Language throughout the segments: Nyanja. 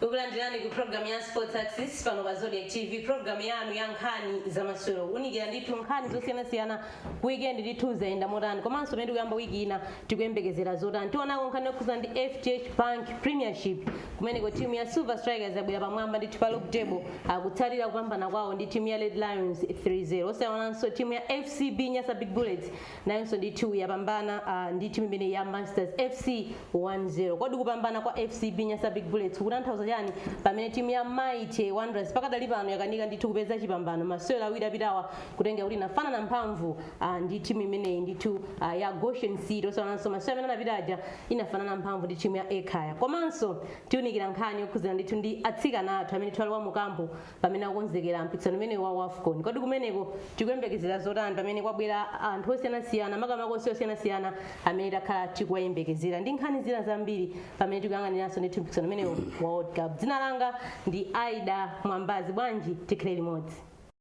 kukulandirani ku programu ya sports access pano pa zodiak tv programu yanu ya nkhani za masewero kuunikira ndithu nkhani zosiyanasiyana weekend ndithu zayenda motani komanso pamene tikuyamba wiki ina tikuyembekezera zotani tionako nkhani yokhudzana ndi fdh bank premiership kumeneko timu ya silver strikers yabwera pamwamba ndithu pa log table kutsatira kupambana kwawo ndi timu ya red lions 3-0 osaonanso timu ya fcb nyasa big bullets nayonso ndithu yapambana ah, ndi timu imeneyi ya masters fc 1-0 kodi kupambana kwa fcb nyasa big bullets kukutanthauza chani pamene timu ya mighty wanderers pakadali pano yakanika ndithu kupeza chipambano masewero awiri apitawa kutengera kuti inafanana mphamvu ah, ndi timu imeneyi ndithu ah, ya goshen city osaonanso masewero amene anapita aja inafanana mphamvu ndi timu ya ekhaya komanso tiunikira nkhani yokhudzana ndithu ndi atsikana athu amene tili nawo ali mu kampu pamene akukonzekera mpikisano umenewu wa wafcon kodi kumeneko tikuyembekezera zotani pamene kwabwera anthu osiyanasiyana makamaka osewera osiyanasiyana amene takhala tikuwayembekezera ndi nkhani zina zambiri pamene tikuyang'ananso ndithu mpikisano umenewu wa world cup dzina langa ndi aida mwambazi bwanji tikhale limodzi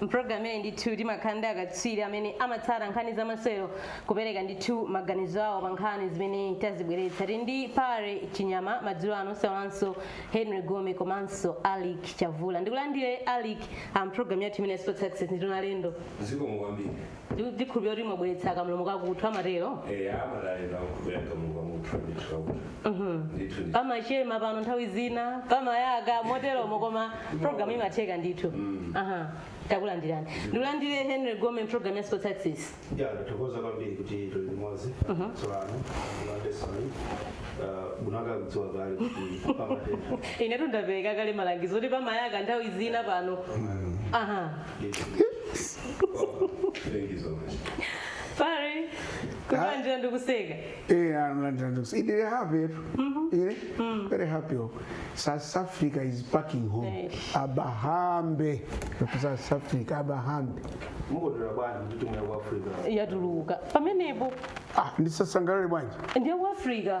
mpulogalamu imeneyi ndithu timakhala ndi akatswiri amene amatsata nkhani za masewero kupereka ndithu maganizo awo pa nkhani zimene tazibweretsa tili ndi pare chinyama madzulo ano osaiwalanso henry gome komanso alick chavula ndikulandire alick a mpulogalamu yathu imeneyi ya sports access ndithu ndalandiridwa zikomo kwambiri ndikhulupirira kuti mwabweretsa kamlomo kakuthwa amatero eya amadalira kukhulupira kamuka muthu ndithu kakuti ndithu ndi pamachema pano nthawi zina pamayaka moteromo koma programu imatheka ndithu aha takulandirani ndikulandire henry gome programu ya sports access ya ndithokoza kwambiri kuti tili limodzi tsopano landesoni bunaka kudziwa kale kuti pamatenda inetu ndapereka kale malangizo kuti pamayaka nthawi zina pano aha Thank you so much. pare takulandirani ndikuseka Eh, I'm very happy. Eh? Very happy. South Africa is packing home. Yes. Abahambe. South Africa, Abahambe. Mukondwera bwanji kuti timu ya ku Africa. yatuluka pamenepo Ah, ndisasangalale bwanji. ndi ya ku africa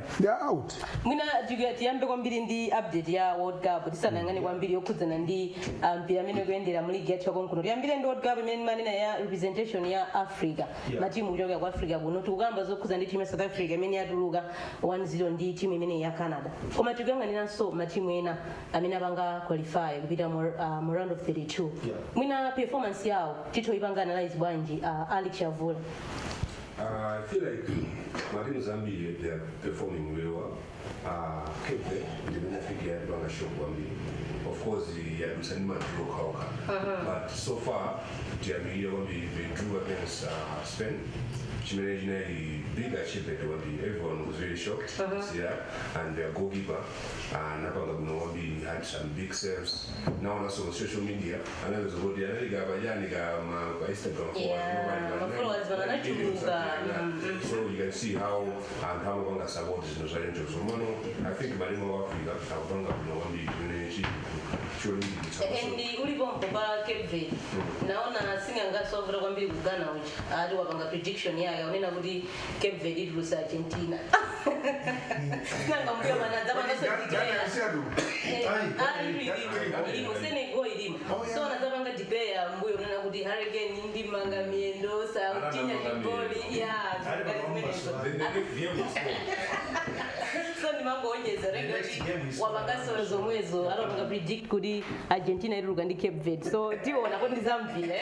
they are out mwina tiku- tiyambe kwambiri ndi update ya world cup tisanayang'ane kwambiri yokhudzana ndi ah, mpira mmene ukuyendera mu ligi yathu yakonkuno tiyambire ndi world cup imene timanena ya representation ya africa Yeah. matimu kuchokera ku africa kuno tikukamba zokhudza ndi timu ya south africa imene yatuluka 1-0 ndi timu imene ya canada koma tikuyang'aniranso matimu ena amene apanga qualify kupita mu ah, mu round of 32 Yeah. mwina performance yawo tithoyipanga analyze bwanji ah, alick chavula I feel like matimu ambiri they are performing very well uh, cape verde ndi imene I think yatipanga shock kwambiri of course yadutsa ndi ma draw okhaokha but so far tiyamikira kwambiri they drew against uh, spain chimene chinali big achievement kwambiri everyone was very shocked yeah, and their goalkeeper uh, anapanga bwino kwambiri had some big saves naonanso on social media anapeza kuti anali ka pajani ka ma pa Instagram followers Yeah, ndipo pali ma ma followers pano anachuluka. Mm. so you can see how anthu amapanga support zinthu za angels komano i think matimu a africa akupanga bwino kwambiri chimene chili cholimbikitsa and uli pompo pa cape verde naona sing'anganso wavuta kwambiri ku ghana uja ati wapanga prediction yake akunena kuti cape verde itulutsa argentina nanga mbuyomu anadzapanganso declare ilimo senegal ilimo so anadzapanga declare mbuyomu kunena kuti harry kane ndimanga miyendo sachinya chigoli ya so ndimangoonjezera kuti wapanganso zomwezo anapanga predict kuti argentina ituluka ndi cape verde so tiona kuti ndizamvile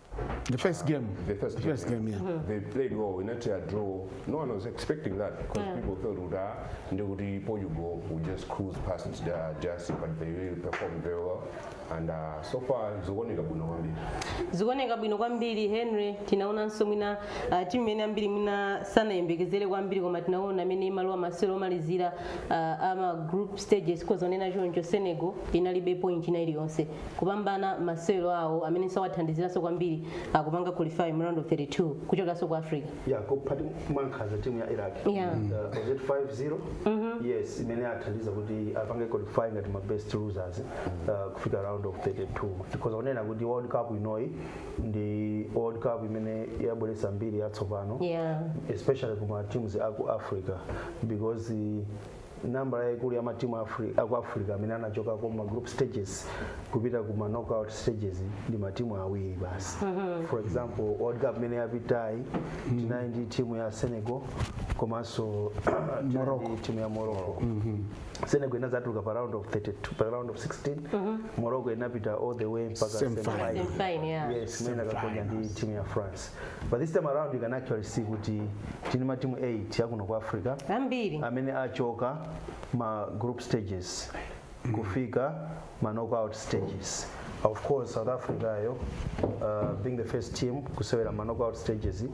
The first game. The first game. First game, yeah. They played well. They got a draw. No one was expecting that because people thought would ah, they would be Portugal would just cruise past the DRC, but they really performed very well. And uh, so far, zikuoneka bwino kwambiri. zikuoneka bwino kwambiri henry tinaonanso mwina uh, timu imene ambiri mwina sanayembekezere kwambiri koma tinaona mmene imalowa masewero omalizira uh, ama group stages tikhoza kunena choncho senegal inalibe point ina iliyonse kupambana masewero awo amenenso awathandiziranso kwambiri kupanga qualify mu round of 32 kuchokeranso ku africa ya kuphatu mwankhanza timu ya iraq Yeah. Uh, was it 5-0 yes zimene zathandiza kuti apange qualify ngati ma best losers uh, kufika round of 32 tikhoza kunena kuti world cup inoyi ndi world cup imene yabweretsa mbiri yatsopano yeah especially kuma teams aku africa because uh, nambala yaikulu ya matimu Afri- aku africa amene anachoka ku ma group stages kupita ku ma knockout stages ndi matimu awiri basi for example world cup imene yapitayi tinali ndi timu ya senegal komanso tinali ndi timu ya morocco senegal inadzatuluka pa round of 32 pa round of 16 morocco inapita all the way mpaka Semi-final. semi-final. Semi-final, yeah. yes imene anakagonja ndi timu ya france but this time around you can actually see kuti tili ma timu 8 yakuno ku africa amene achoka ma group stages kufika ma knockout stages of course south africayo uh, being the first team kusewera ma knockout stages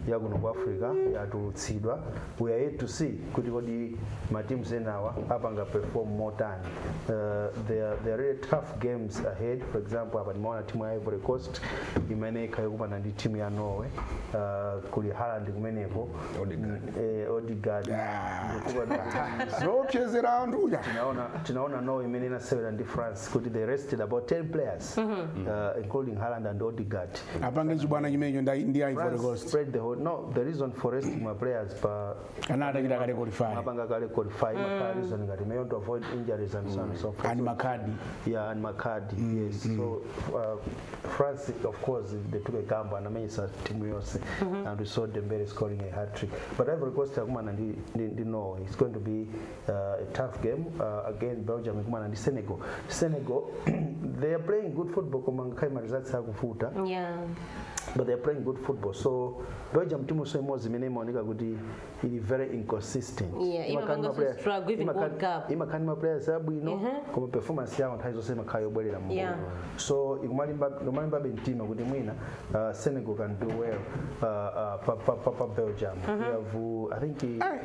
yakuno ku africa yatulutsidwa we are yet to see kuti kodi ma teams enawa apanga perform motani uh, there, there are really tough games ahead for example apa timaona timu ya ivory coast imene ikhale kupana ndi timu ya norway uh, kuli haland kumeneko Odegaard. eh, odegaard zoopsezera anthu uja tinaona tinaona norway imene inasewera ndi france kuti they rested about 10 players uh, including haland and odegaard apange chibwana chimenecho ndi ivory France coast spread the whole. No, the reason for resting ma players pa Ana atachita kale qualify. mapanga kale qualify makhala reason ngati may want to avoid injuries and so on and so forth Ani makadi. yeah and makadi yes so uh, france of course they took a gamble anamenyesa timu yonse and we saw dembele scoring a hat trick but ivory coast akumana ndi, ndi, ndi norway it's going to be uh, a tough game uh, again belgium ikumana ndi senegal senegal they are playing good football koma ngakhale maresults akuvuta yeah but they're playing good football so belgium timunso imodzi imene imaoneka kuti ili very inconsistent Yeah, Imakhala imapanga ndi maplayer- so struggle even imakhala- World Cup. imakhala ndi maplayers abwino Mhm. koma performance yawo nthawi zonse imakhala yobwerera m'mbuyo Yeah. so ikumalimba- ikumalimbabe mtima kuti mwina uh, senegal can do well uh, uh, pa, pa, pa, pa belgium we have uh, i think uh,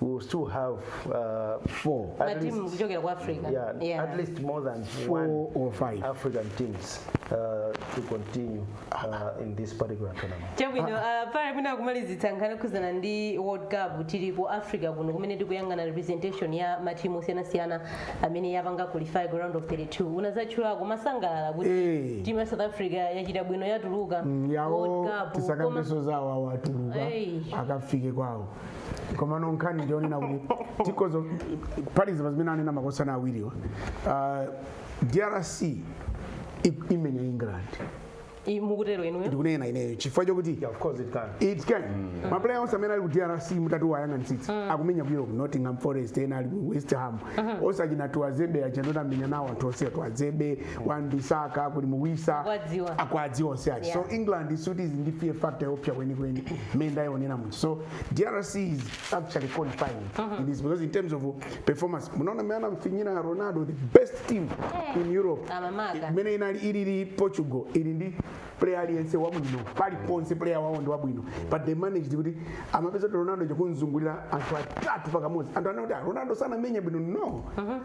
we will still have uh, four at matimu least, kuchokera ku africa yeah, Yeah. at least more than Four one or five. African teams uh, to continue uh, in this particular tournament. chabwino ah, pale mwina kumalizitsa nkhani yokhuzana ndi world cup tili ku africa kuno kumene tikuyang'ana representation ya matimu osiyanasiyana amene yapanga qualify ku round of 32 unadzatchulako umasangalala kuti Eh. timu ya south africa yachita bwino yatuluka yawo World Cup. tisakambeso Koma- zawo awatuluka Ei. akafike kwawo komano nkhani ndiyonena kuti tikozo kuphatikizapa zimene anena makosana awiriwa Ah, drc i- imenya england I- mukutero inuyo ndikunena ineyo chifukwa chokuti Yeah, of course it can. it can maplayer onse amene ali ku drc mutatu wayang'anitsitsa akumenya ku europe nottingham forest ena ali ku west ham onse achina tuanzebe achandani amenya nawo anthu onse tuanzebe wan-bissaka kuli wissa Akwadziwa. akwadziwa onse achi so Yeah. england sikuti ili ndi fear factor yopsa kwenikweni mmene ndayionera muno so DRC is actually qualifying in this because in terms of performance munaona mmene anamfinyira Ronaldo the best team in Europe Amamaka. imene inali ilili Portugal ili ndi player aliyense wabwino pali ponse player wawo ndi wabwino but they managed kuti amapeza kuti Ronaldo akumzungulira anthu atatu pakamodzi anthu anakuti "Ah, Ronaldo sanamenya bwino no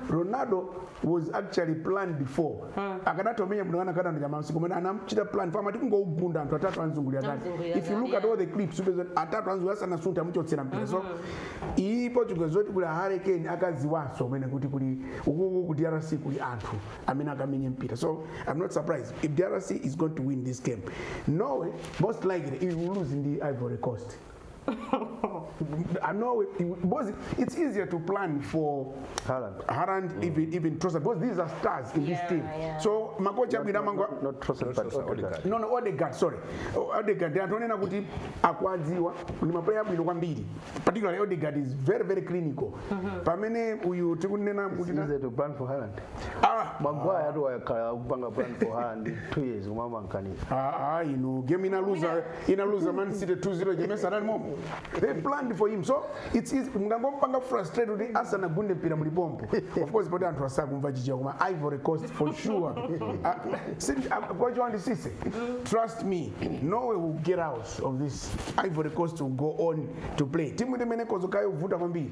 Ronaldo was actually planned for akanatha kumenya munthu anakana ndi koma anamchita plan for amati kungougwira anthu atatu anzungulira ndani Anzungulira if you look ndani, at all the clips upeza kuti atatu anzungulira sanasuntha amuchotsera mpira so iyi portugal zoti kuli Harry Kane akadziwanso mmene kuti kuli ukuku ku drc kuli anthu amene akamenye mpira so i'm not surprised if drc is going to win this game norway most likely it will lose ndi ivory coast I know it, it- because it's easier to plan for Haaland. Haaland, even even Trossard, because these are stars in Yeah, this team. yeah. So makocha bwina mangwa Not, not Trossard, but Trossard, Odegaard. Odegaard. no no Odegaard sorry O- Odegaard ndi anthu onena kuti akwadziwa ndi mapuleya abwino kwambiri particularly Odegaard is very very clinical pamene uyu tikunena kuti It's easier to plan for Haaland. ah Maguire ati wakhala akupanga plan for Haaland two years kumama mkanisa. ah ah, inu game inaluza inaluza man city 2-0 game anali momo they planned for him so it's easy mungangompanga frustrate kuti asanagunde mpira muli pompo of course poti anthu asakumva chichewa koma ivory coast for sure Ah, si- ah, pochiwa ndi sise trust me norway will get out of this ivory coast will go on to play timu yake imene kozokayo vuta kwambiri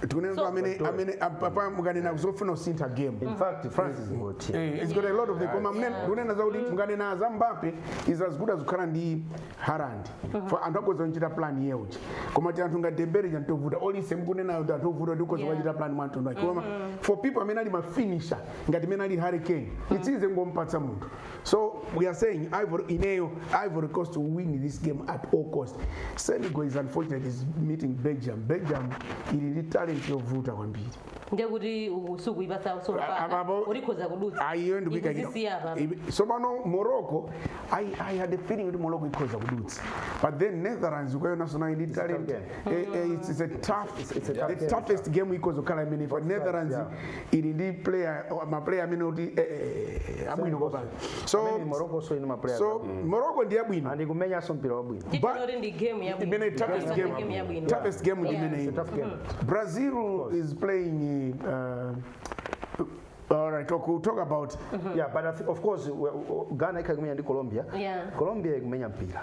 tikunena kuti amene amene apapa mukanena zofuna kusintha game In fact, France is good team. Eh, it's got a lot of the koma mne- ndikunena zakuti mukanena za Mbappe is as good as kukhala ndi Haaland for anthu akhoza kuchita plan yoti koma ti anthu ngati Dembele ndi anthu ovuta olise mukunenayo kuti anthu ovuta kuti ukhoza Yeah. kuchita plan mwa mtundu wake koma for people amene ali mafinisha ngati mene ali harry kane it's easy kungompatsa munthu So we are saying Ivory, Ineo, Ivory Coast to win this game at all cost. Senegal is unfortunate is meeting Belgium. Belgium ili ndi talent yovuta kwambiri. ndiye kuti usuku ipasa Apa- usopana apo- ulikhoza kudutsa Ayiyo ndikuika kino. Ikuzisiya apa. Ibi- Sopano Morocco, I, I had a feeling kuti Morocco ikhoza kudutsa. But then Netherlands ukayona sona ili talent. game. Eh, eh, it's, it's a tough, it's a tough the game. toughest game ikhoza kukhala imene for Netherlands yeah. ili ndi player oh, ma player amene kuti eh, eh, eh, abwino kwambiri so Amene Morocco so ine ma players so abwino. Morocco ndi abwino and kumenyanso mpira wabwino Titi Ba- lori ndi game ya imene bwino. toughest Komanso ndi game game ya bwino. toughest game ndi Yeah. imene It's a tough game. Brazil is playing uh, all right talk, we'll talk about yeah but I thi- of course we- we- Ghana ikhala ikumenya ndi Colombia Yeah. Colombia ikumenya mpira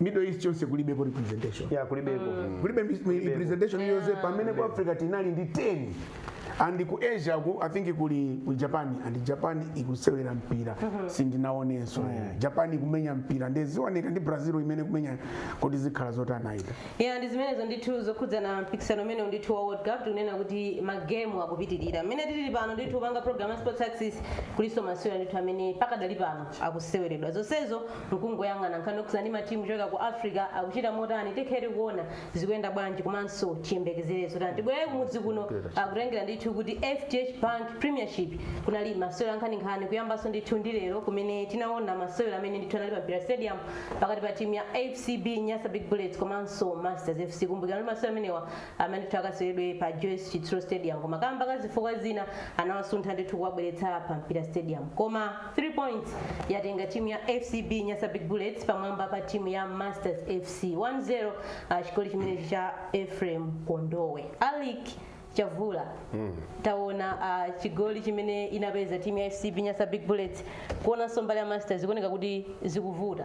middle east chonse kulibeko representation ya kulibeko kulibe mi- mi- representation yonse pamene ku africa tinali ndi 10 and ku asia ku i think kuli ku japan and japan ikusewera mpira sindinaonenso japan ikumenya mpira ndezioneka ndi brazil imene kumenya kuti zikhala zotanaita ya ndi zimenezo ndithu zokhudzana mpikisano umene ndithu wa world cup tikunena kuti magemu akupitirira mmene tili pano ndithu popanga program ya sports access kulinso masewera ndithu amene pakadali pano akuseweredwa zonsezo Nkungoyang'ana nkhani yokhudzana ndi ma team kuchokera ku Africa akuchita motani tikhale tikuona zikuyenda bwanji komanso tiyembekezere zotani. Tibwerere kumudzi kuno ah, kutengera ndithu kuti FDH Bank Premiership kunali masewera ankhaninkhani kuyambanso ndithu ndi lero kumene tinaona masewera amene ndithu anali pa Mpira Stadium pakati pa timu ya FCB Nyasa Big Bullets komanso Masters FC. Kumbukirani kuti masewera amenewa amayenera ndithu akaseweredwe pa Joyce Chitsulo Stadium koma kamba ka zifukwa zina anawasuntha ndithu kuwabweretsa pa Mpira Stadium. Koma 3 points yatenga timu ya FCB Nyasa Big Bullets pamwamba pa timu ya Masters FC 1-0 ah, chigoli chimene cha Ephraim Kondowe. Alick chavula taona uh, chigoli chimene inapeza timu ya fcb nyasa big bullets kuonanso mbali ya masters zikuoneka kuti zikuvuta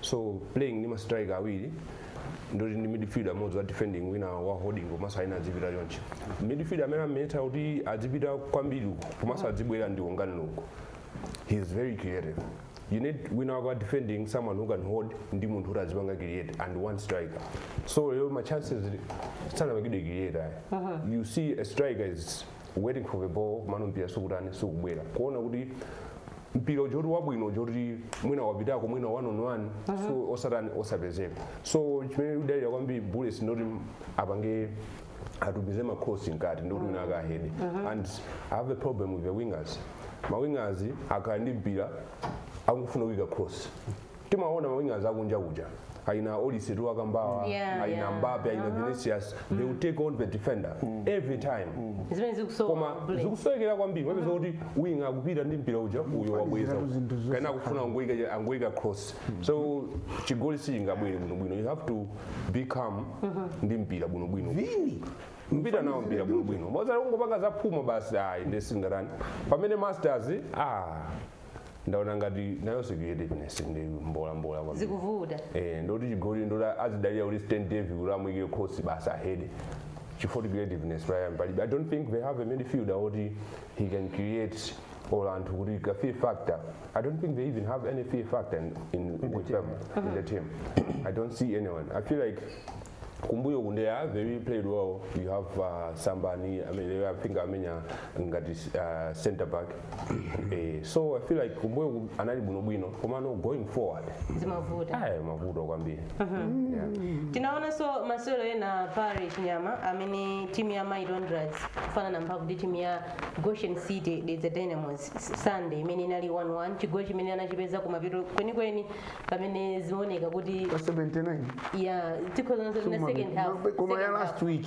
so playing ndi ma striker awiri ndiye kuti ndi midfielder m'modzi wa defending wina wa holding komanso wina adzipita choncho midfielder amene amayenera kuti adzipita kwambiri uko komanso adzibwera ndi Wongani Lungu he is very creative you need wina wako defending someone who can hold ndi munthu kuti azipanga create and one striker so lero ma chances sanapangidwe create ayi you see a striker is waiting for the ball komano mpira sukutani sukubwera kuona kuti mpira uja woti wabwino uja woti mwina wapitako mwina one on one so osatani osapezeko so chimene ikudalira kwambiri bullets ndoti apange atumize makrosi mkati ndoti wina akahede and i have a problem with the wingers mawingers akhala ndi mpira akufuna kuyika cross timaona mawingers akunja kuja aina olise tikuwakambawa Yeah, aina yeah. Mbappe aina vinicius they will take on the defender every time zimene zikusowa koma bullet. zikusowekera kwambiri wapeza kuti winga akupita ndi mpira uja uyo wabweza ziratu zinthu zonse kaena akufuna angoyika angoyika cross so chigoli sichingabwere bwinobwino you have to be calm ndi mpira bwinobwino kupita nawo mpira bwinobwino osati kungopanga zaphuma basi ayi nde singatani pamene masters ah ndaona ngati nayonso creativeness ndi mbola mbola kwambiri zikuvuta eh ndoti chigoli ndoti azidalira kuti stand dev kuti amuyike cross basi ahede chifukwa kuti creativeness Brian palibe i don't think they have a midfielder woti he can create or woti ka fear factor i don't think they even have any fear factor in, in, with them in the team i don't see anyone i feel like kumbuyo kunde ya very played well you have uh, sambani I mean, I think amenya ngati uh, center back eh, so i feel like kumbuyo ku- anali bwinobwino komano going forward zimavuta ayi mavuto kwambiri yeah. tinaonanso masewero ena pa Chiwembe amene timu ya mighty wanderers kufanana mphamvu ndi timu ya goshen city dedza dynamos sunday imene inali 11 chigoli chimene anachipeza kumapeto kwenikweni pamene zimaoneka kuti pa 79 ya tikhozanso lina second half Koma- koma ya second last half. week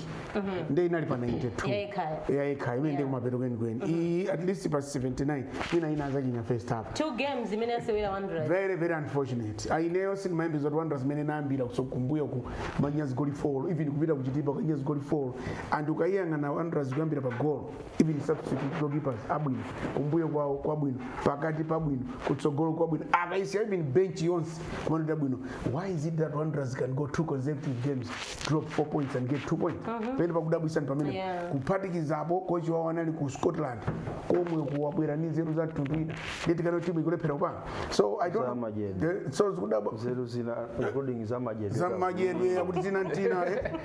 nde inali pa 92 Ya Ekhaya. ya Ekhaya imene ndi Yeah. kumapeto kwenikweni iyi at least pa 79 ina inadzachinya first half two games zimene asewera wanderers very very unfortunate aineyo sindimayembeza zoti Wanderers imene inayambira uko kumbuyo kumamenya zigoli 4 even kupita ku Chitipa kukamenya zigoli 4 and ukayiyang'ana Wanderers kuyambira pa golo even substitute goalkeepers abwino kumbuyo kwawo kwabwino pakati pabwino kutsogolo kwabwino akaisiya even bench yonse kuma note abwino why is it that wanderers can go two consecutive games drop four points and get two points pene pakudabwisani pamene Yeah. kuphatikizapo kochi wawo anali ku scotland komwe akubwera ndi nzeru za mtundu ina nde tikuona timu ikulephera kupanga so i don't know. Zamajedi. The- so tikudabwa nzeru zina including za majedwe za madyedwe akuti zina ntina eh.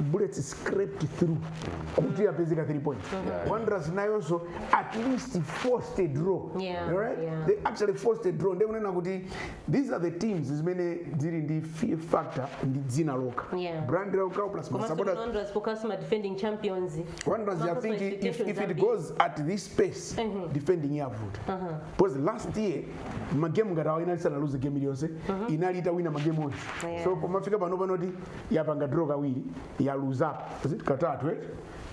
bullets scraped through kuti apezeka 3 points wanderers nayonso at least forced a draw Yeah, alright yeah. they actually forced a draw ndekunena kuti these are the teams zimene zili ndi fear factor ndi dzina lokha Yeah. brand lokha plus komanso masapota Wanderers of course ma defending champions Wanderers, I Makosa think if, expectations if it zambiri. goes at this pace, defending yavuta. Because last year, magemu ngati awa inali sana lose game iliyonse, inali itawina magemu onse. Yeah. So pomafika pano panoti yapanga draw kawiri yaluza is it katatu eh?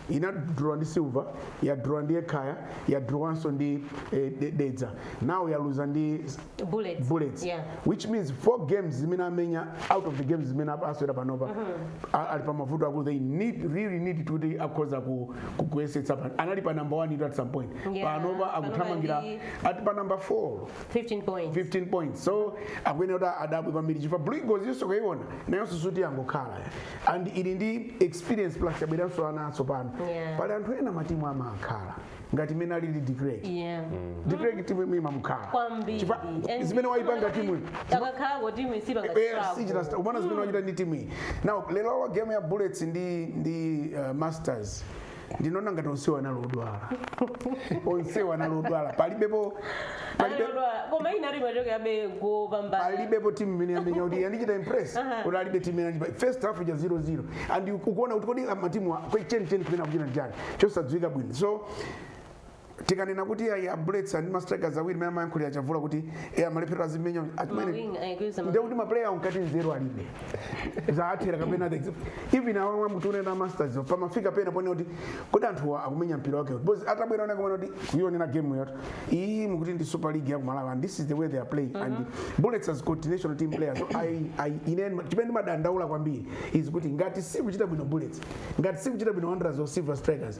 inadrawa ndi silver yadrawa ndi ekhaya yadrawanso ndi eh, de- dedza nawo yaluza ndi bullets bullets yeah which means four games zimene amenya out of the games zimene aswera panopa a- ali pa mavuto akulu they really need to kuti akhoza ku- ku- kuyesetsa pa- anali pa number one itu at some point Yeah, panopa panopa akuthamangira ndi- ati pa number four 15 points. 15 points so akuyenera kuti adabwe kwambiri chifukwa blue eagles yonse kuyiona nayonso sikuti yangokhala and ili ndi experience plus yabweranso ana atsopano Yeah. pali anthu ena matimu amakhala ngati mmene alili de klerk Yeah. de klerk timu imwe imamukhala Kwambiri. Chifukwa And zimene wayipanga timu Akakhalako timu isipa ngati Eh, struggle. sichita sta- umaona zimene wachita ndi timu iyi now lero game ya bullets ndi ndi uh, masters ndinaona ngati onsewa anali odwala onsewa anali odwala palibepo palibe Anadwala. koma inali machoke yabe kupambana alibepo timu imene yamenya kuti yandichita impress Aha. kuti alibe timu imene yandichita first half ija 0-0 and ukuona kuti kodi matimu a- kwenikweni kumene akuchita n'chani chosadziwika bwino so tikanena kuti ayi a bullets ndi mastrikers awiri mmene amayankhulira chavula kuti e amalephera azimenya achimene Mawing ayikuza nde kuti maplayer awo mkati nzeru alibe zawathera kapena the example even awa amene mukunena masters yo pamafika pena ponena kuti kodi anthuwa akumenya mpira wake because atabwera wina kumene kuti kuyionera game yathu iyi mukuti ndi super league ya ku malawi and this is the way they are playing and bullets has got national team players so i i ine chimene ndimadandaula kwambiri is kuti ngati sikuchita bwino bullets ngati sikuchita bwino wanderers or silver strikers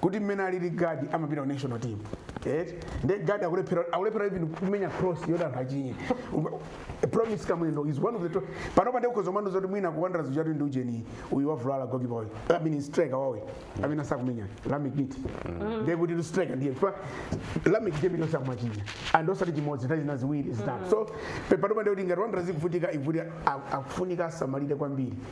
kuti mmene alili gaddie amapita ku national team eti nde gaddie akulephera akulephera even kumenya cross yoti anthu achinye promise kamwendo is one of the top panopa ndikukhoza kumva ndithu zoti mwina ku wanderers kuchita ndi ujeni uyu wavulala gokipa uyu i mean striker wawo amene asakumenya lameck mithi nde kuti ndi striker ndiye chifukwa lameck ndi amene akumachinya and osati chimodzi nthawi zina ziwiri zitatu so pe- panopa ndikuti ngati wanderers ikuvutika ndikuti akufunika asamalire kwambiri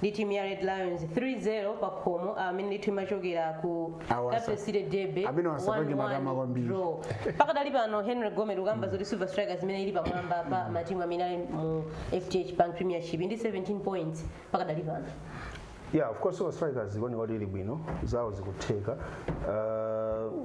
ndi timu ya red lions 3-0 pa khomo amene ndithu imachokera ku Awasa. capital city derby Amene asapange matama 1-1 kwambiri. draw pakadali pano henry gome tikukamba zoti silver strikers imene ili pamwamba pa matimu amene ali mu fdh bank premiership ndi 17 points pakadali pano yeah of course silver strikers ikuoneka kuti ili bwino zawo zikutheka uh,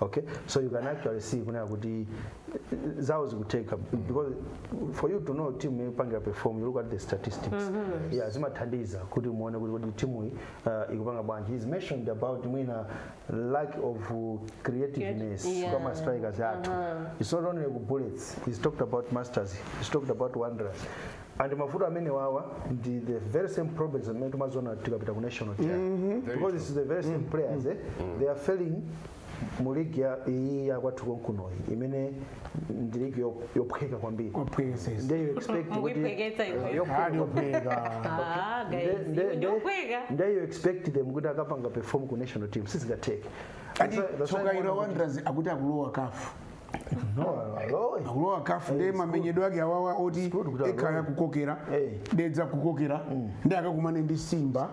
okay so you can actually see kunena kuti zawo zikutheka because for you to know team ikupanga perform you look at the statistics yeah zimathandiza kuti muone kuti timu iyi uh, ikupanga bwanji he's mentioned about mwina lack of uh, creativeness Yeah. kwa ma strikers athu it's not only ku bullets he's talked about masters he's talked about wanderers and mavuto amenewawa ndi the very same problems amene timaziona tikapita ku national team because it's the very same players eh? they are failing mu ligi ya iyi yakwathu konkunoyi imene ndi ligi yo- yophweka kwambiri Opwezeza. nde you expect kuti Ukuiphweketsa iwe. yophweka Hali opweka. Ah, guys, Nde- nde- iwe nde- ndi yophweka. nde you expect them kuti akapanga perform ku national team sizingatheke Ati That's why- that's why tsoka ilo muona kuti- wanderers akuti akulowa CAF akulowa CAF ndiye mamenyedwe ake awawa oti Sikuti kuti Ekhaya alowe. kukokera Eh. dedza kukokera ndi akakumane ndi simba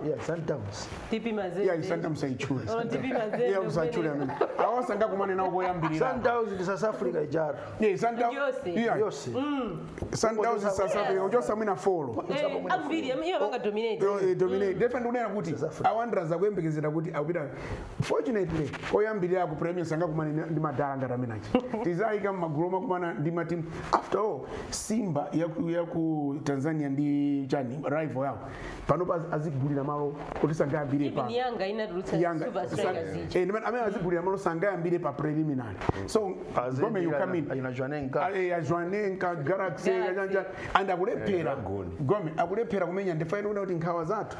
TP mazembe iya Sundowns musaitchule Olo TP mazembe iya musaitchule kumene. amene awa sangakumane nawo koyambirira sundowns ndi south africa ijaro Yeah, Santa- Yose. yeah, yose Sundowns is South Africa, kuchotsa mwina four Eh, ambiri am- iye apanga dominate Yo, eh, dominate. Definitely kunena kuti a Wanderers akuyembekezera kuti akupita Fortunately, koyambirira ku preliminary sangakumane ndi- ndi madala ngati amene aja. Tizayika m'magulu omakumana ndi matimu. After all, Simba ya ku- ya ku Tanzania ndi chani rival yawo. Panopa azigulira malo kuti sangayambire Even pano. yanga inatulutsa Yanga Silver Strikers sa- ija. eh, ndimene amene azigulira malo sangayambire pa preliminary. So Gome you come in. a Jwaneng galaxy Galaxy. kachanja and akulephera Dragon. gome akulephera kumenya ndifaira kuda kuti nkhawa zathu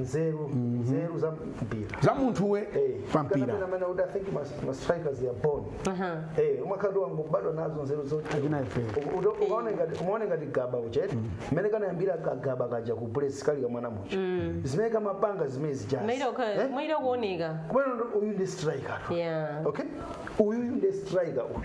nzeru nzeru za mpira za munthuwe Eh, pa kana mpira pena mana kuti i think mas- ma strikers they are born Aha. Eh, umakhala wangobadwa nazo nzeru zote Akina ife. U- udo- ukaona ngati- umaona ngati gaba ucheke mmene kanayambira kagaba kaja ku Bullets kali kamwana muja zimene kamapanga zimene zijazi Maida ukha- maida kuoneka kubwera uyu ndi striker tu. Yeah. okay uyu ndi striker uyu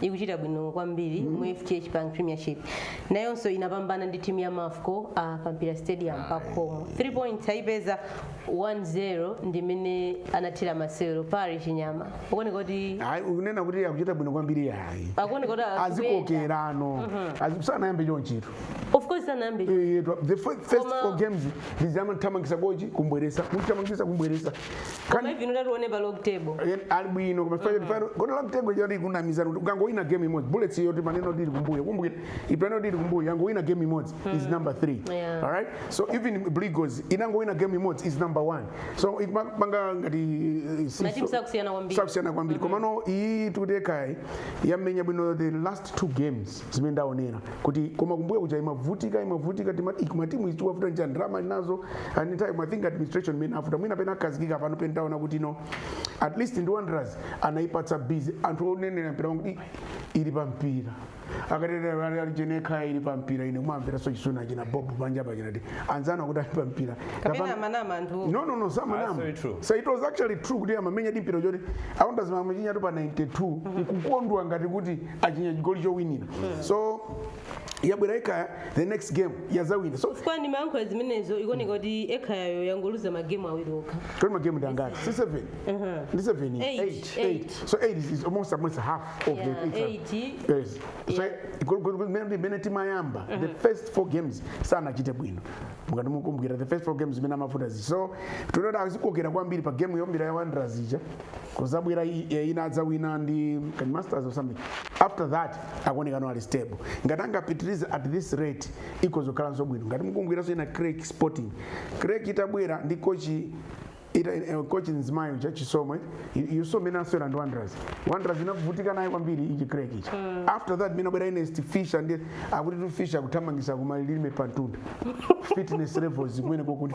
ikuchita bwino kwambiri mu fdh bank premiership nayonso inapambana ndi timu ya mafco uh, pa mpira stadium pa khomo 3 points ayipeza 1-0 ndimene anathira masewero Parry Chinyama ikuoneka kuti Ayi, kunena kuti akuchita bwino kwambiri yayi akuoneka kuti akuyenda. azikokerano sanayambe chonchito of course sanayambe Eh, the fir- first Koma- four games ndizamthamangisa kochi kumbweresa kuthamangisa kumbweresa Koma even utati uone pa log table. Yen- ali bwino koma fire fire kodi log table yoti kunamizana kuti ukangowina game imodzi bullets yoti timanena kuti ili kumbuyo kumbukira timanena kuti ili kumbuyo yangowina game imodzi is number 3 Yeah. all right so even Blue Eagles inangowina game imodzi is number 1 so ikupanga ngati eh, si- Matimu so- sakusiyana kwambiri. sakusiyana kwambiri komano iyi tikutekayi yamenya bwino the last two games zimene ndaonera kuti koma kumbuyo kuja imavutika imavutika tima- ik- matimu izi zikuwavuta nja ndalama nazo and in time i think administration imawavuta mwina pena akhazikika pano pena taona kuti no at least ndi wanderers anayipatsa busy anthu onenera mpira wangu "Ih, ili pa mpira akatetera alijenekha ili pa mpira ine kumamvera so chisuna achina bob panja pachinati anzana kuti ali pa mpira kapena Kapanga- amanama anthu no no no samanama Absolutely true. so it was actually true kuti amamenyadi mpira choti a Wanderers amachinya tu pa 92 nkukondwa ngati kuti achinya chigoli chowinira so yabwera ekhaya the next game yazawina so chifukwa ndi mayankho zimenezo zikuoneka kuti ekhayayo yangoluza magemu awiri okha kodi magemu ndi angati si 7 ndi 7 Eight, 8 eight. 8 so 8 is almost almost half of Yeah, the eight. Yes. So, Yeah. go- go- go- mene- mene imayamba the first four games sanachite bwino mukati mukumbukira the first four games imene amavuta zichi so tinkaona azikokera kwambiri pa game yombira ya wanderers ija kuzabwera ina anadzawina ndi kani masters or something after that akuonekano ali stable ngati angapitirize at this rate ikhoza kukhalanso bwino ngati mukukumbukiranso ina creck sporting creck itabwera ndi kochi ita eh, coach mzimayi uja chisomo uyu so mene anasewera ndi wanderers wanderers inavutika naye kwambiri ichi creck ichi after that mene anabwera ernest fisher nde akutitu fisher akuthamangisa kumalilime pamtunda fitness levels kumene kokuti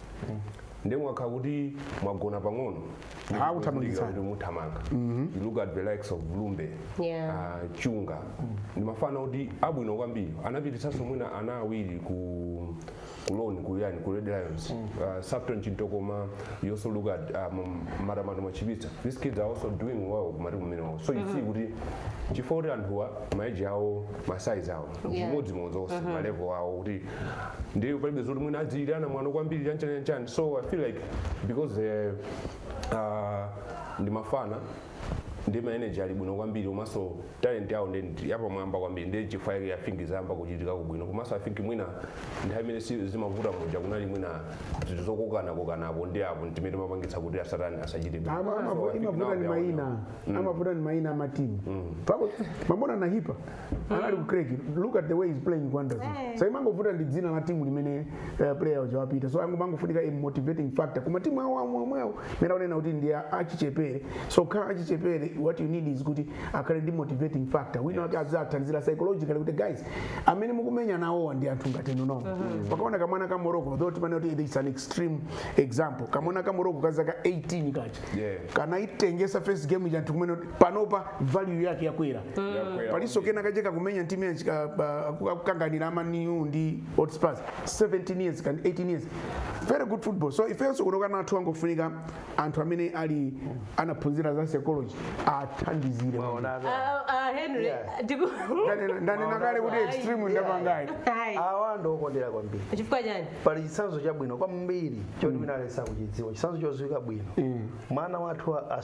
nde mwakhala kuti mwagona pang'ono Ah, akuthamangitsani. kuti muthamanga you look at the likes of blumbe Yeah. ah, chunga ndi mafana kuti abwino kwambiri anapititsanso mwina ana awiri ku loan kuyani ku red lions uh, saulos chintokoma you also look at um, matamando machipitsa these kids are also doing well kumatimu amenewo so you see kuti chifukwa kuti anthuwa ma age awo masaizi awo Yeah. chimodzimodzi onse malevo awo kuti ndiye palibe zoti mwina azichitirana mwano kwambiri chanchani chanchani so i feel like because eh, ah, ndi mafana ndi ma energy ali bwino kwambiri komanso talent yawo ndi yapamwamba kwambiri ndiye chifukwa yake i think zayamba kuchitikako bwino komanso i think mwina nthawi imene si- zimavuta muja kunali mwina zinthu zokokana kokana apo ndi apo ndi zimene zimapangitsa kuti asatani asachite bwino. Ama- So, amavu- I think imavuta now ni they are maina on- amavuta ndi maina amatimu pakuti mwaona na hipa anali ku Creck look at the way he's playing wanderers Eh. so imangovuta ndi dzina la timu limene eh, player uja wapita so ango- amangofunika a motivating factor koma timu awo amwe omwewo mmene wanena kuti ndi a- achichepere so kukhala achichepere what you need is kuti akhale ndi motivating factor wina wake aziwathandizira psychologically kuti guys amene mukumenya nawowa ndi anthu ngati inu nomwe takaonani kamwana ka morocco though timanena kuti it's an extreme example kamwana ka morocco ka zaka 18 kaja Yeah. kanaitengetsa first game ija anthu kumanena kuti panopa value yake yakwera Yakwera. palinso kena kaja kakumenya ntimu yanji ka- ba- ku- akukanganira a man u ndi hotspurs 17 years kaya ndi 18 years very good football so ifenso kuno ana athu angofunika anthu amene ali anaphunzira za psychology athandizire Ah, ah, henry Yeah. tiku- Ndanena- ndanena kale kuti extreme ndapangayi Ayi. awa ndiwokondera kwambiri chifukwa chani pali chitsanzo chabwino kwambiri choti mwina analeza kuchidziwa chitsanzo chodziwika bwino mwana wathu wa- as-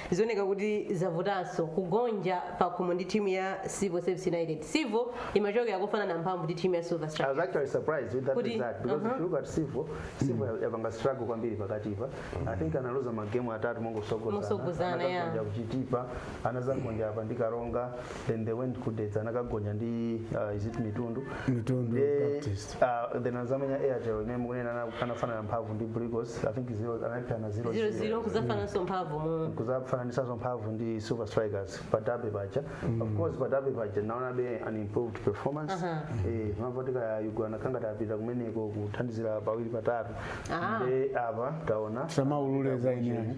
Zioneka kuti zavutanso kugonja pakhomo ndi team ya Civil Service United. Civil imachokera kofanana mphamvu ndi team ya Silver Strikers. I was actually surprised with that Kuti- result because if you look at Civil, Civil ya- yapanga struggle kwambiri pakatipa. I think analuza magemu atatu mongotsogozana. Motsogozana, yeah. Anagonja ku Chitipa, anazagonja apa ndi Karonga, then they went ku Dedza anakagonja ndi uh, is it Mitundu. Mitundu Eh, Baptist. Uh, then azamenya airtel imene mukunena na anafanana mphamvu ndi blue eagles i think zero analepherana zero zero zero kuzafananso mphamvu mu kuzafananisanso mphamvu ndi silver strikers padabe paja of course padabe paja naonabe an improved performance Aha. eh amavutika a young anakhala ngati apita kumeneko kuthandizira pawiri patatu Ah. nde apa taona samaulule za ineyo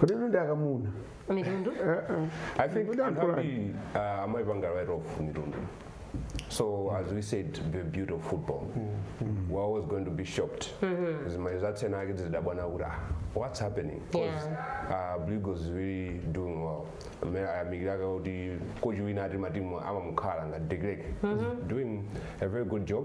kodi inu ndi akamuna mitundu Eh, eh. I think Kodi anthu anthu ambiri uh, amaipanga write off mitundu. So as we said, the beauty of football. We're always going to be shocked. Zimene zatsena ake zidabwana kuti ah, what's happening? 'Cause, uh, Blue Eagles is really doing well. Amene ayamikiraka kuti kochi wina ati matimu amamukhala ngati De Klerk. Doing a very good job.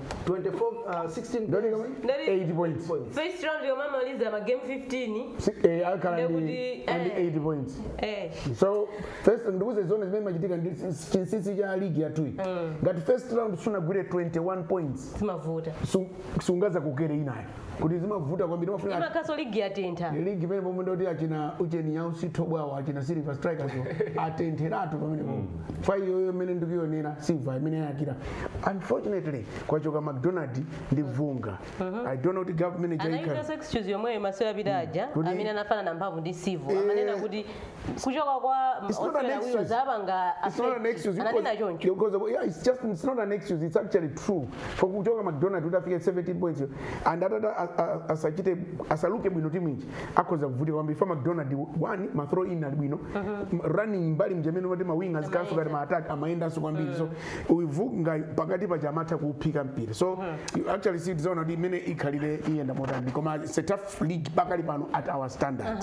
24 uh, 16 Ndani kama? Ndani- 8 points points. first round yomwe amaliza ma game 15 Si- eh, akhala ndi Ndekuti, ndi eh. 8 points eh so first ndikuze zoona zimene zimachitika ndi s- chinsinsi cha ligi yathuyi ngati first round sunagwire 21 points zimavuta su- sungazakokere inayo kuti zimavuta kwambiri mafunika imakhaso ligi yatentha ligi pamene pomwe ndoti achina ujeni ya usitho bwawo achina silver strikers atentheratu pamene pomwe fa iyoyo imene ndikuyonera silver imene yayakira unfortunately kwachoka mcdonald ndi vunga i don't know kuti gap imene jaika anayikaso excuse yomweyo masiku apita aja Kuti- amene anafanana mphamvu ndi civil amanena kuti kuchoka kwa It's not an osewera awiri excuse. zapanga It's not an excuse. You ananena cause- choncho because of- yeah, it's just it's not an excuse. It's actually true. For kuchoka McDonald kuti afike 17 points yo, and atata a- a- asachite asaluke bwino timu ija akhoza kuvutika kwambiri fa McDonald one ma throw in ali bwino ma running mbali mjamene kuti ma wingers akenso kati ma attack amayendanso kwambiri so uyu Vungayu pakati paja amatha kuuphika mpira so you actually see tizaona kuti imene ikhalire iyenda motani koma it's a tough league pakali pano at our standard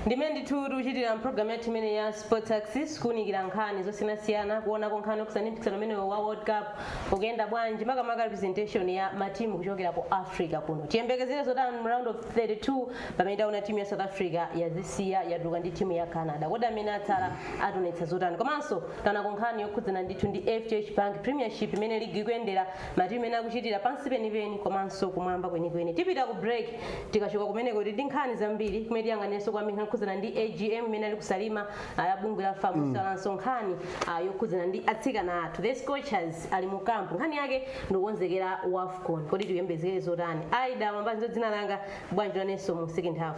Ndi mmene ndithu tikuchitira mpulogalamu yathu imeneyi ya Sports Axis kuunikira nkhani zosiyanasiyana kuonako nkhani yokhudzana ndi mpikisano umenewu wa World Cup ukuyenda bwanji makamaka representation ya matimu kuchokera ku Africa kuno. Tiyembekezere zotani mu round of 32 pamene taona timu ya South Africa yazisiya yatuluka ndi timu ya Canada. Kodi amene atsala ationetsa zotani? Komanso taonako nkhani yokhudzana ndithu ndi FDH Bank Premiership imene ligi ikuyendera matimu ena akuchitira pansi penipeni komanso kumwamba kwenikweni tipita ku break tikachoka kumeneko tili ndi nkhani zambiri kumene tiyang'aniranso kwambiri nkhani yokhudzana ndi agm imene ali ku salima ya bungwe la fam kusalanso nkhani ah, yokhudzana ndi atsikana athu the scorchers ali mu kampu nkhani yake ndikukonzekera wafcon kodi tiyembekezere zotani aida mwambazi ndo dzina langa bwanji lanenso mu second half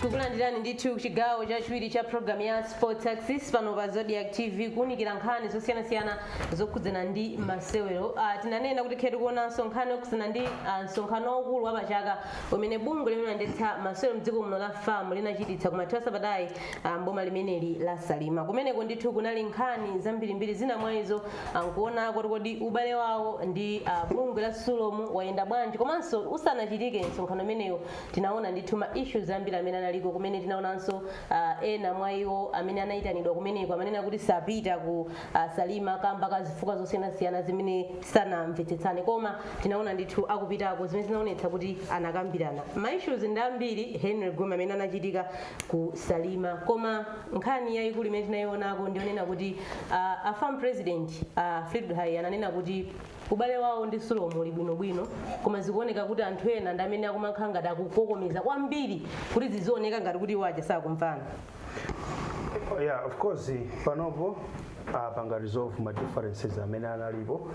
tikulandirani ndithu chigawo chachiwiri cha programu ya sports axis pano pa zodiak tv kuunikira nkhani zosiyanasiyana zokhudzana ndi masewero uh, tinanena kuti titha kuonanso nkhani yokhudzana ndi uh, msonkhano waukulu wa pachaka umene bungwe limene limayendetsa masewero mdziko muno la fam linachititsa kumathero a sabatayi uh, mboma limeneli la salima kumeneko ndithu kunali nkhani zambirimbiri zina mwa izo nkuona kuti kodi ubale wawo ndi uh, bungwe la sulom wayenda bwanji komanso usanachitike msonkhano umenewu tinaona ndithu ma issues ambiri amene analiko kumene tinaonanso uh, ena mwa iwo amene anayitanidwa kumeneko amanena kuti sapita ku uh, salima kamba ka zifukwa zosiyanasiyana zimene sanamvetsetsane koma tinaona ndithu akupitako zimene zinaonetsa kuti anakambirana ma issues ndi ambiri henry gome amene anachitika ku salima koma nkhani yayikulu imene tinayionako ndiyonena kuti uh, a fam president uh, Fleetwood Haiya ananena kuti ubale wawo ndi Sulom uli bwinobwino koma zikuoneka kuti anthu ena ndi amene akumakhala ngati akukokomeza kwambiri kuti zizioneka ngati kuti iwo aja sakumvana yeah of course panopo apanga resolve ma differences amene analipo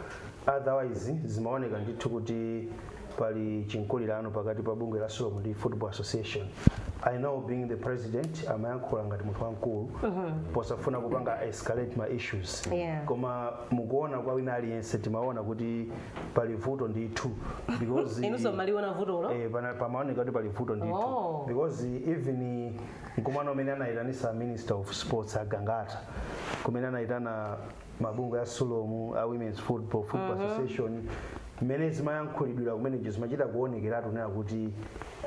otherwise zimaoneka ndithu kuti pali chinkulirano pakati pa bungwe la sulom ndi football association i know being the president amayankhula ngati munthu wamkulu posafuna kupanga escalate ma issues Yeah. koma mukuona kwa wina aliyense timaona kuti pali vuto ndithu because inunso mumaliona vutolo Eh, pana- pamaoneka kuti pali vuto ndithu Oh. because even mkumano umene anayitanisa minister of sports a gangata kumene anayitana mabungwe a sulom a women's football football association mmene zimayankhulidwira kumeneko zimachita kuonekeratu kunena kuti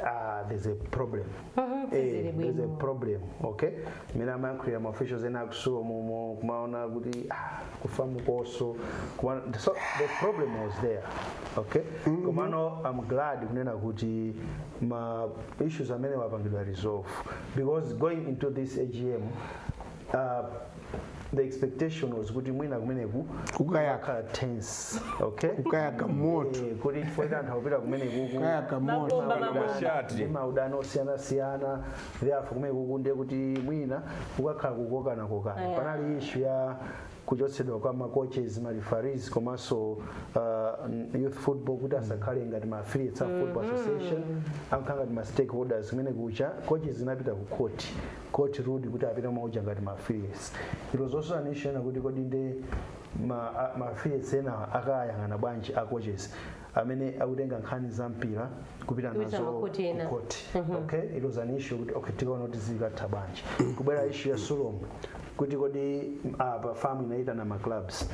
ah, there's a problem Eh, sizili bwino. there's a problem okay mmene amayankhulira ma officials ena aku sulomumo kumaona kuti ah, ku famuko so Kuma- so the problem was there okay komano i'm glad kunena kuti ma issues amenewa apangidwa resolve because going into this agm uh, the expectation was kuti mwina kumeneku Kukayaka. kukakhala tense okay kukayaka moto Eh, kuti chifukwa cha anthu akupita kumenekuku kukayaka moto Mabomba, Kapena mabomba. mashati. ndi maudani osiyanasiyana therefore kumenekuku ndiye kuti mwina kukakhala kukokanakokana Eh. panali ishu ya kuchotsedwa kwa ma coaches ma referees komanso uh, n- youth football kuti asakhale ngati ma affiliates a football association akhale ngati ma stakeholders kumene kuti a coaches zinapita ku court court ruled kuti apite kumauja ngati ma affiliates it was also an issue yonena kuti kodi nde ma, a- ma affiliates enawa akawayang'ana bwanji a coaches amene akutenga nkhani za mpira kupita Kupita nazo makhoti ena. ku court okay it was an issue kuti okay tikaona kuti zikatha bwanji kubwera issue ya sulom kuti kodi apa FAM inaitana ma clubs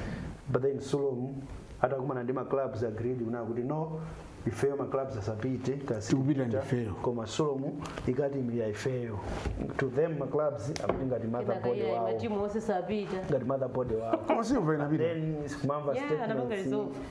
but then sulom atakumana ndi ma clubs agreed kunena kuti no ifeyo ma clubs asapite kasi Tikupita ndi ifeyo. koma sulom ikati imilira ifeyo to them ma clubs akuti ngati motherboard Inakaimira wawo matimu onse sapita ngati motherboard wawo koma Sulom inapita then kumamva Yeah, anapanga statements resolve.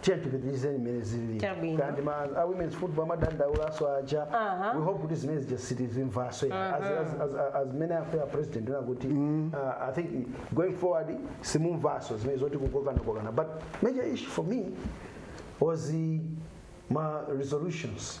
tiye tipitirizeni mmene zilili Chabwino. kenako ma a women's football amadandaulaso aja Aha. we hope kuti zimene zija sitizimvaso ya. As- as- as- as- as mmene a FAM president anena kuti uh, i think going forward simumvaso zimene zoti kukokanakokana but major issue for me was the ma resolutions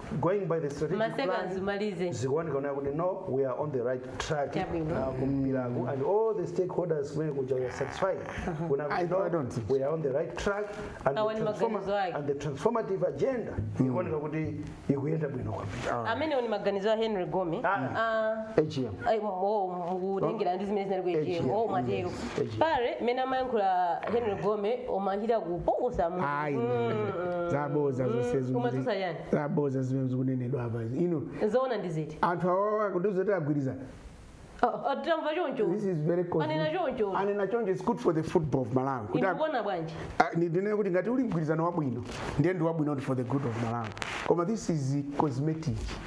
going by the strategic Maseka plan azimalize. zikuoneka nayo kuti no we are on the right track Chabwino. uh, kumpiraku and all the stakeholders kumene kuja we are satisfied kuna I- kuti I don't no think we are on the right track and Awa the, ni transforma- maganizo ake. and the transformative agenda ikuoneka kuti ikuyenda bwino kwambiri amene ni maganizo a henry gome Ah. Ah, AGM. Ai, m- oh, mukutengera ndi zimene zinali ku AGM, oh mwatero mm, eji. paja mmene amayankhula henry gome omachita kupokosa mu- ayi Mm. zaboza zonse zimene- Koma tiuzeni. zaboza zimene zikunenedwa apa ino zoona ndi ziti anthu awawa akutiuza kuti agwirizana Oh, titamva choncho this is very cosmetic. Anena choncho. anena choncho it's good for the football of malawi kuti ag- mukuona bwanji Ah, ni- ndinene kuti ngati uli mgwirizano wabwino ndiye ndi wabwino ndi for the good of malawi koma this is cosmetic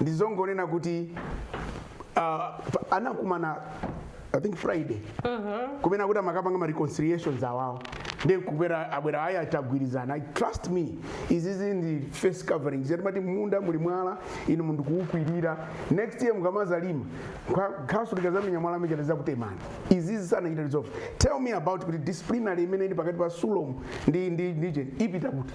ndizongonena kuti uh, anakumana i think friday kumene akuti amakapanga ma reconciliations awawo ndiye kubwera abwera ayi atagwirizana trust me izizi ndi face covering zati mati munda muli mwala inu n'kuukwirira next year mukamazalima khasu likazamenya mwala umene uzakutemani izizi sanachita resolve tell me about kuti disciplinary imene ili pakati pa sulom ndi ndi FAM ipita kuti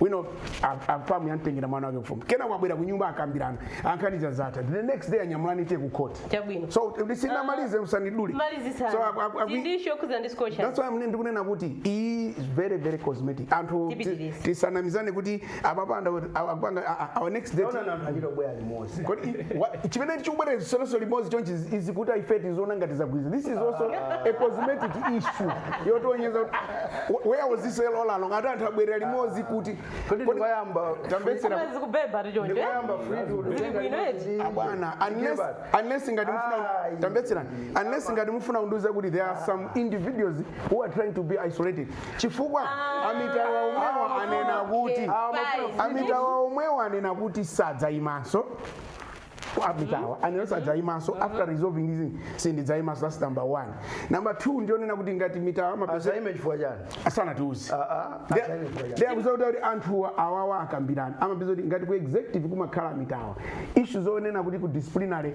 wina a- a- FAM yamtengera mwana wake kufumu kena wabwera kunyumba akambirana ah nkhani zatha the next day anyamulana ali ku court Chabwino. so ndisanamalize usanidule so malizisana aku- aku- aku- ndi issue kuti ndi discussion that's why ine ndikunena kuti iyi is very very cosmetic anthu ti- Tipitirize. tisanamizane kuti apa akupanga our next day Naona na- na hilo bwaya limoja. Kodi wa- chimene akubwerera tsono limodzi chonchi is kuti ife tiziona ngati zagwirizana this is also a cosmetic issue yotionetsa kuti ah, wh- where was this all along ati anthu abwerera limodzi kuti kodi ndikayamba tamvetsera Koma zikubeba tikatero. ndikayamba Zili bwino eti? abwana unless unless ngati mufuna tamvetserani unless ngati mufuna kundiuza kuti there are some individuals who are trying to be isolated chifukwa a Mitawa omwewo anena kuti a Mitawa omwewo anena kuti sadzaimanso a Mitawa anena sadzaimanso after resolving this sindidzaimanso that's number one number two ndi yonena kuti ngati Mitawa amapeza azaime chifukwa chani asanatiuzi Ah, ah, azaime chifukwa chani ndiye akutiuza kuti kuti anthuwa awawa akambirana amapeza kuti ngati ku executive kumakhala a Mitawa issue zonena kuti ku disciplinary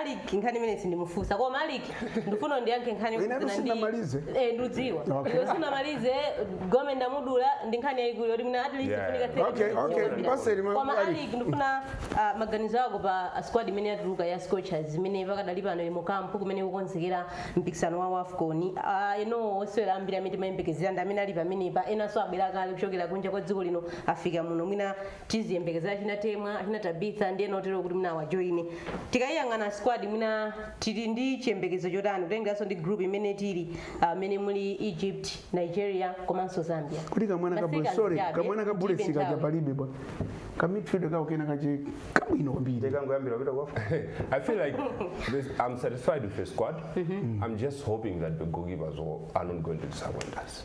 Alick nkhani imene sindimufunsa koma Alick ndifuna ndiyankhe nkhani Ine zina ndi- sinamalize. eh ndudziwa Okay. iwe sunamalize gome ndamudula ndi nkhani yayikulu yoti mwina at least Yeah. funika thirty Okay, minutes okay, yokambira. paseli ma- koma Alick. Alick ndifuna ah, maganizo ako pa ah, squad imene yatuluka ya Scorchers imene pakadali pano ili mu kampu kumene ikukonzekera mpikisano wa WAFCON Ah, eno osewera ambiri amene timayembekezera ndi amene ali pamenepa enanso abwera kale kuchokera kunja kwa dziko lino afika muno mwina tiziyembekezera achina temwa achina tabitha ndi ena otero kuti mwina awajoine tikayiyang'ana squad mwina tili ndi chiyembekezo chotani kutengeranso ndi group imene tili ah, imene muli egypt nigeria komanso zambia kuti kamwana ka Africa sorry zichabe, kamwana ka bullets tilibe kaja nthawi. palibe bwana ka midfield kawo kena kaja kabwino kwambiri kangoyambira kupita kwafu I feel like this, I'm satisfied with the squad. I'm just hoping that the goalkeepers will- are not going to disappoint us.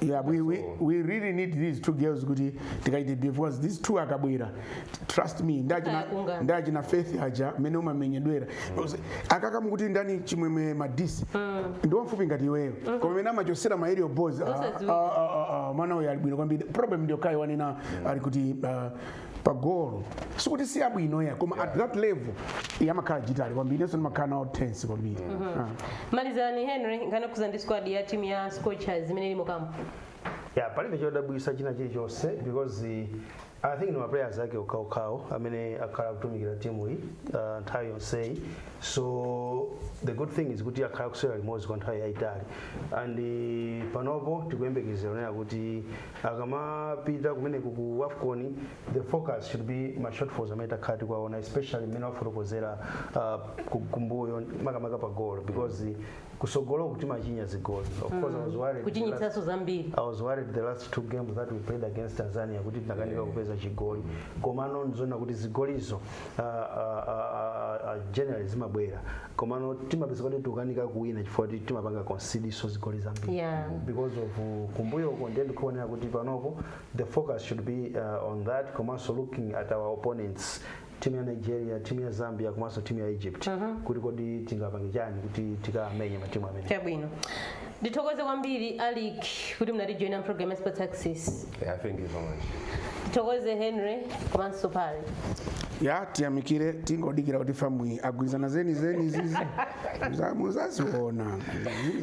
Yeah, we, we, we really need these two girls kuti tikaithe because these two akabwera trust me ndachina Akakungana. ndachina faith aja mmene umamenyedwera Because akakamu kuti ndani chimwemwe madise ndi wamfupi ngati iweyo koma mene amachotsera ma aerial balls ah, Osadziwika. ah, ah, ah, ah, mwana uyu ali bwino kwambiri problem ndi yokhayi wanena alick kuti ah, pa golo sikuti si abwino ya koma at that level iye amakhala jittery kwambiri inenso ndimakhala nawo tense kwambiri Ah. malizani henry nkhani yokhudza ndi squad ya timu ya scorchers imene ili mu kampu ya palibe chodabwitsa china chilichonse because eh, i think ni maplayers ake okhaokhawo amene akhala akutumikira timu iyi uh, nthawi yonseyi so the good thing is kuti akhala kusewera limodzi kwa nthawi yayitali and eh, panopo tikuyembekezera kunena kuti akamapita kumeneko ku wafcon the focus should be ma shortfalls amene takhala tikuwaona especially mmene wafotokozera uh, ku- kumbuyo makamaka pa goal because kutsogoloku timachinya zigoli of course I was worried the last- kuchinyitsanso zambiri I was worried the last two games that we played against Tanzania kuti tinakanika kupeza chigoli komano ndi zoona kuti zigolizo uh, uh, uh, uh, generally zimabwera komano timapeza kuti tikukanika kuwina chifukwa kuti timapanga concede-nso zigoli zambiri Yeah. because of uh, kumbuyo uko ndiye ndikuonera kuti panopo the focus should be uh, on that komanso looking at our opponents timu ya nigeria timu ya zambia komanso timu ya egypt kuti kodi tingapange chani kuti tikamenye matimu amene chabwino ndithokoze kwambiri alick kuti munatijoina mpulogalamu ya sports access Yeah, thank you so much. ndithokoze henry komanso parry ya tiyamikire tingodikira kuti fam agwirizana zeni zeni zizi Za- muzaziona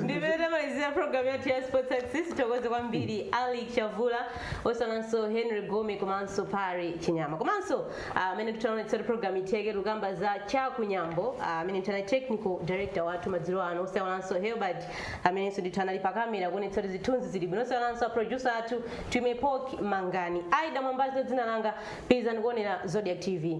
ndi pamene tamalizira pulogalamu yathu ya sports access ndithokoze kwambiri alick chavula osaiwalanso henry gome komanso parry chinyama komanso amene ndithu anaonetsa kuti program itheke tukamba za chaku nyambo ah, amene ndithu anali technical director wathu madzulo ano osaiwalanso herbert amenenso ndithu anali pa kamera kuonetsa kuti zithunzi zili bwino osaiwalanso aproducer athu twimepoki mangani ida mwambazi dzina langa pitirizani kuonera zodiak tv